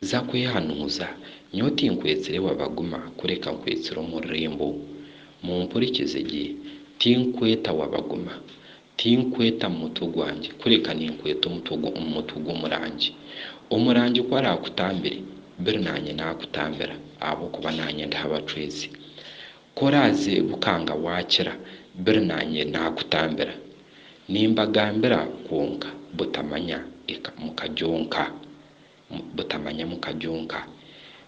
Za kwehanuuza, nyowe tinkwetsire wabaguma kureka nkwetsire omururembo. Mumpurikize gye, tinkweta wabaguma. Tinkweta mu mutwe gwangye kureka ninkweta omutwe omu mutwe gw'omurangi. Omurangi ku araakutambire, biri naanye naakutambira ahabw'okuba naanye ndi ha bacwezi. Ku oraaze bukanga waakira, biri naanye naakutambira. Nimbagambira kwonka butamanya eka mukagyonka, butamanya mukagyonka.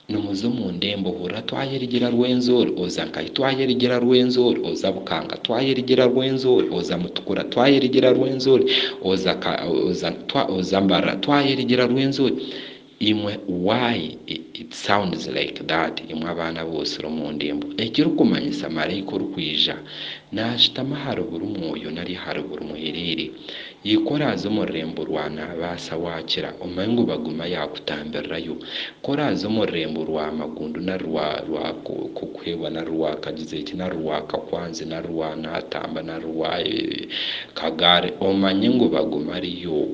Nimuza omu ndembo hurira twayerigyera Rwenzori oza Nkahi twayerigyera Rwenzori oza Bukanga twayerigyera Rwenzori oza Mutukura twayerigyera Rwenzori oza ka oza twa oza Mbarara twayerigyera Rwenzori. Imwe why it sounds like that imwe abaana bootsire omu ndembo ekirikumanyisa maraika orikwija naashutama ahari buri mwoyo nari ahari buri muhereere Ika oraaze omu rurembo rwa naabaasa waakira omanye ngu baguma yaakutambirirayo Ka oraaze omu rurembo rwa magundu nari rwa rwa k'okuheebwa nari rwa kagize eki nari rwa kakwanzi nari rwa naatamba nari rwa kagaari omanye ngu baguma ariyo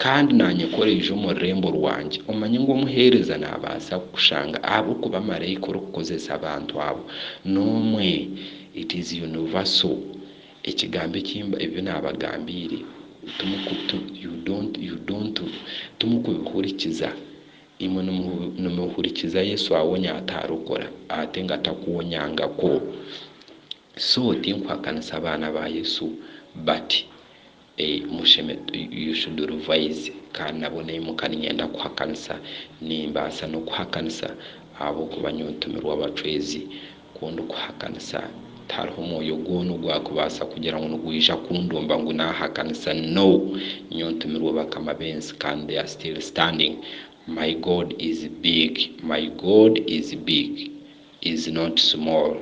Kandi naanyekoreize omu rurembo rwangye. Omanye ngu omuheereza naabaasa kukushanga ahabw'okuba maraika orikukozesa abantu abo n'omwe. It is universal. Ekigambo eki ebi naabagambiire timukubihurikiza. Imwe nimuhurikiza Yesu awonya ataarokora ate ngu atakuwonyangako. So tinkuhakanisa abaana ba Yesu but. You should revise kandi nabwo naimuka ninyenda kuhakanisa nimbaasa nokuhakanisa ahabwokuba nyowe ntumirwe abacwezi kundikuhakanisa tihariho mwoyo gwona ogwakubaasa kugira ngu nigwija kundumba ngu nahakanisa no nyowe ntumirwe bakama bensi kandi they are still standing my God is big my God is big. is not small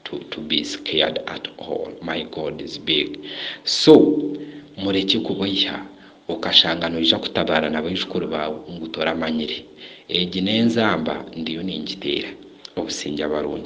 to to be scared at all my God is big so murekye kuboiha okashanga noija kutabaara na baijukuru baawe ngu toramanyire egi n'enzamba ndiyo ningiteera obusingye abarungi.